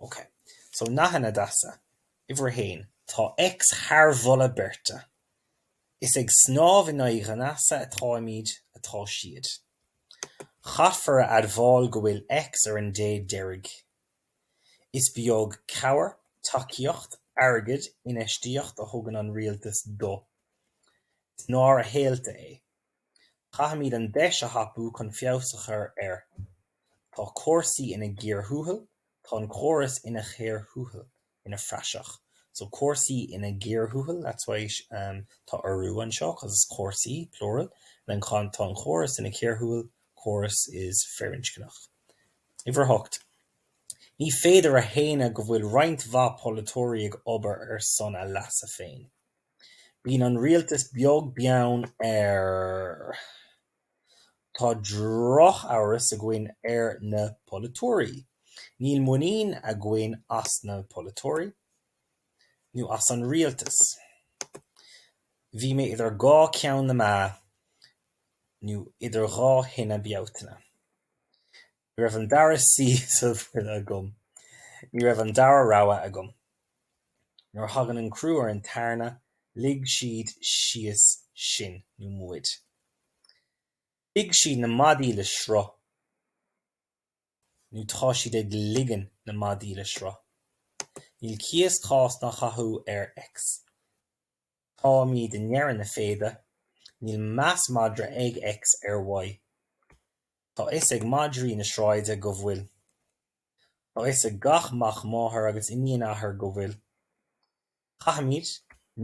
OK. So, nathanna deasa. Uimhir a haon, tá X thar mholadh beirte. Is ag snámh in aghaidh an easa atáimid atá siad. Caithfear a admháil go bhfuil X ar an dé deiridh. Is beag cabhair, tacaíocht, airgead, infheistíocht a thugann an rialtas do. Is náire shaolta é. Caithfimid an deis a thapú chun feabhas a chur air. Tá cúrsaí ina gcíor thuathail, tá an córas ina chíor thuathail, ina phraiseach. So cúrsaí ina gcíor thuathail, that's why tá urú anseo, because it's cúrsaí, plural, and then tá an córas ina chíor thuathail, córas is firinscneach. Uimhir 8, Ní féidir a shéanadh go bhfuil roinnt mhaith polaiteoirí ag obair ar son a leasa féin. Bíonn an rialtas beag beann ar. Tá drochamhras againn ar na polaiteoirí. Níl muinín againn as na polaiteoirí nó as an rialtas. Bhí mé idir dhá cheann na meá nó idir dhá thine Bealtaine. Ní raibh an dara suí sa bhuaile agam. Ní raibh an dara rogha agam. Nuair a thagann an crú ar an tairne, lig siad síos sinn, nó muid. Lig siad na maidí le sruth, nó tá siad ag ligean na maidí le sruth. Níl cíos, cás ná cathú ar X. Táimid i ndeireadh na féide. Níl meas madra ag X ar Y. Tá 'fhios ag madraí na sráide go bhfuil. Tá 'fhios ag gach mac máthar agus iníon athar go bhfuil. Caithfimid,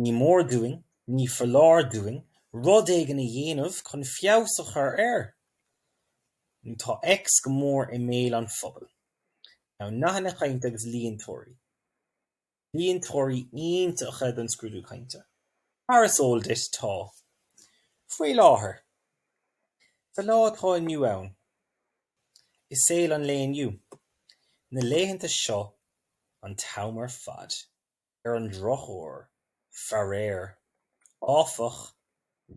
ní mór dúinn, ní foláir dúinn rud éigin a dhéanamh chun feabhas a chur air nó tá X go mór i mbéal an phobail. Now, nathanna cainte agus líontóirí. Líontóirí iontacha don scrúdú cainte, mar is eol duit, tá. Faoi láthair, sa lá atá inniu ann, i saol an lae inniu, na laethanta seo, an t-am ar fad, ar an drochuair, faraor, áfach,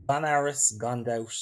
gan amhras, gan dabht,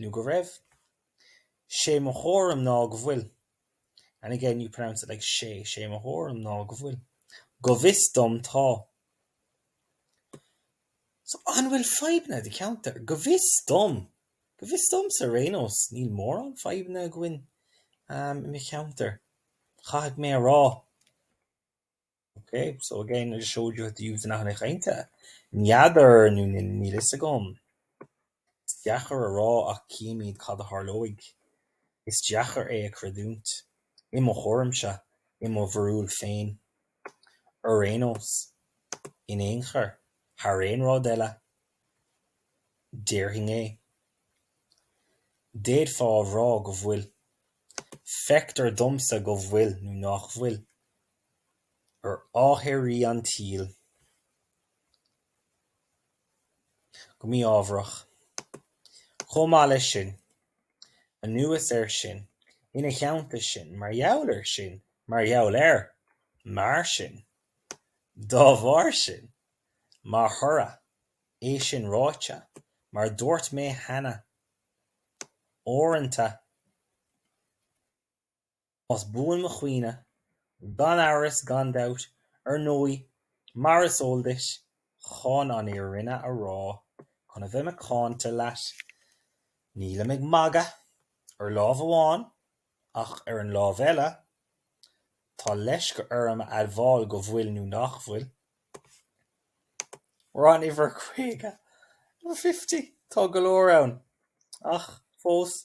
nó go raibh. 'Sé mo thuairim ná go bhfuil. And again you pronounce it like sé, 'sé mo thuairim ná go bhfuil. Go bhfios dom, tá. So, an bhfuil fadhbanna i do cheantar? Go bhfios dom. Go bhfios domsa, ar aon nós, níl mórán fadhbanna againn i mo cheantar, caithfidh mé a rá. Ok, so again I just showed you how to use the nathanna cainte. N'fheadar nó níl a fhios agam. Is deacair a rá ach cífimid cad a tharlóidh. Is deacair é a chreidiúint, i mo thuairimse, i mo bharúil féin. Ar aon nós, in aon chor, thar aon rud eile, déarfainn é. D'fhéadfá a rá go bhfuil. Feictear domsa go bhfuil nó nach bhfuil. ar ámharaí an tsaoil, go mí-ámharach. Chomh maith leis sin, anuas air sin, ina theannta sin, mar gheall air sin, mar gheall air, mar sin, dá bharr sin, mar thoradh, é sin ráite, mar a dúirt mé cheana, uaireanta, Más buan mo chuimhne, gan amhras, gan dabht, ar ndóigh, mar is eol duit, chun an fhírinne a rá, chun a bheith macánta leat, nílim ag magadh, ar lámh amháin, ach ar an lámh eile, tá leisce orm a admháil go bhfuil, nó nach bhfuil, ar an uimhir 50, 50, tá go leor ann, ach fós,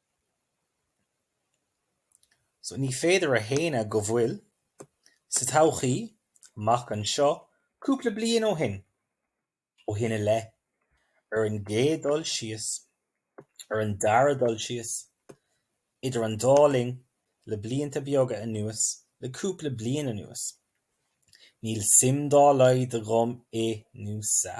So ní féidir a shéanadh go bhfuil, sa todhchaí, amach anseo, cúpla bliain ó shin, ó shin i leith, ar an gcéad dul síos, ar an dara dul síos, idir an dá linn, le blianta beaga anuas, le cúpla bliain anuas, níl suim dá laghad agam i, nó sa.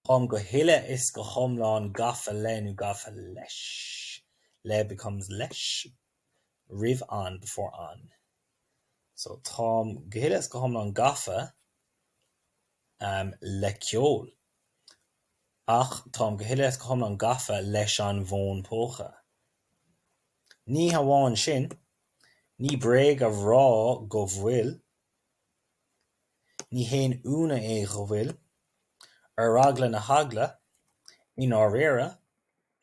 Táim go huile is go hiomlán gafa le nó gafa leis le becomes leis roimh an before an so táim go huile is go hiomlán gafa le ceol ach táim go huile is go hiomlán gafa leis an bhfón póca. Ní hamháin sin, ní bréag a rá go bhfuil Ní haon ionadh é go bhfuil Ar eagla na heagla, i ndáiríre,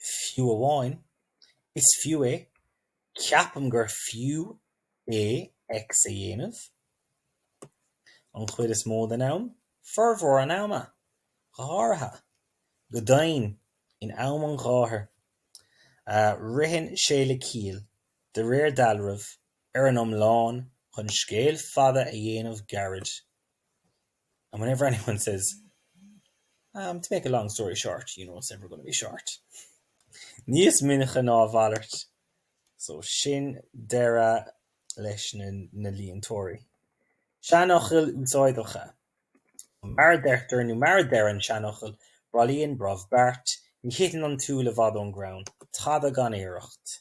fiú amháin, is fiú é, ceapaim gur fiú é X a dhéanamh, an chuid is mó den am, formhór an ama, go háirithe, go deimhin, in am an ghátair, ritheann sé le ciall, de réir dealraimh, ar an iomlán, chun scéal fada a dhéanamh gairid. And whenever anyone says, um, to make a long story short, you know it's never going to be short. Níos minice ná a mhalairt, so sin deireadh leis na, na líontóirí. Seanfhocail úsáideacha. Mar a deirtear, nó mar a deir an seanfhocal, bailíonn brobh beart, ní thiteann an t-úll i bhfad ón gcrann, tada gan iarracht.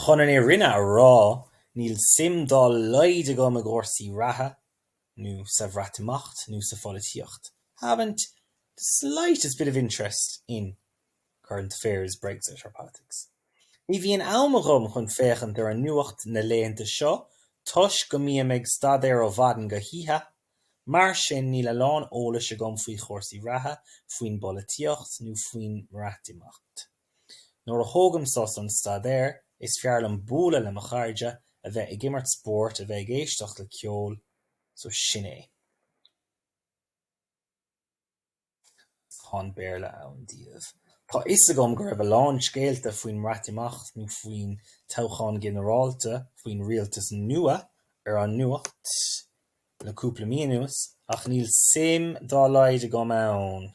Chun an fhírinne a rá, níl suim dá laghad agam i gcúrsaí reatha, nó sa Bhreatimeacht, nó sa pholaitíocht, haven't the slightest bit of interest in current affairs, Brexit or politics. Ní bhíonn am agam chun féachaint ar an nuacht na laethanta seo toisc go mbím ag staidéar ó mhaidin go hoíche, mar sin níl a lán eolais agam faoi chúrsaí reatha, faoin bpolaitíocht nó faoin mBreatimeacht. Nuair a thógaim sos ón staidéar, is fearr liom bualadh le mo chairde, a bheith ag imirt spóirt, a bheith ag éisteacht le ceol, so sin é. Agus tá an Béarla ann daoibh. Tá 'fhios agam go raibh a lán scéalta faoin mBreatimeacht nó faoin toghchán ginearálta, faoin rialtas nua, ar an nuacht le cúpla mí anuas, ach níl suim dá laghad agam ann.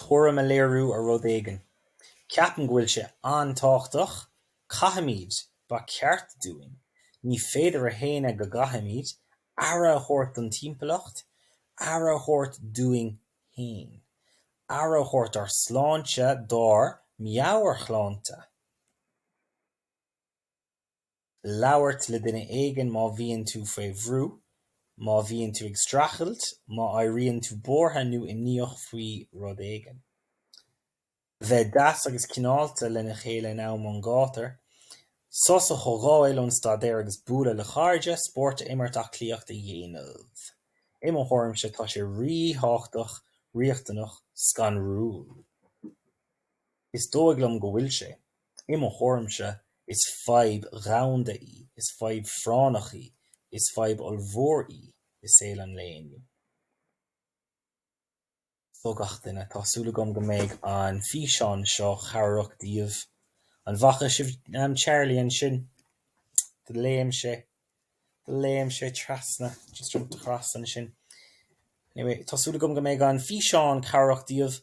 tuairim a léiriú ar rud éigin. Ceapaim go bhfuil sé an-tábhachtach. Caithfimid, ba cheart dúinn, ní féidir a shéanadh go gcaithfimid, aire a thabhairt don timpeallacht, aire a thabhairt dúinn féin, aire a thabhairt dár sláinte, dár meabhairshláinte. labhairt le duine éigin má bhíonn tú faoi bhrú, má bhíonn tú ag streachailt, má éiríonn tú buartha nó imníoch faoi rud éigin. A bheith deas agus cineálta lena chéile in am an ghátair. Sos a thógáil ón staidéar agus bualadh le cairde, spórt a imirt, aclaíocht a dhéanamh. I mo thuairimse, tá sé ríthábhachtach, riachtanach, scanrúil. Is dóigh liom go bhfuil sé. I mo thuairimse, is fadhb dhomhanda í, is fadhb phráinneach í, is fadhb ollmhór í i saol an lae inniu. So gach duine, tá súil agam go mbeidh an físeán seo cabhrach daoibh. An bhfaca sibh Charlie ansin? Do léim sé, do léim sé trasna, just jumped across ansin. Anyway, tá súil agam go mbeidh an físeán cabhrach daoibh.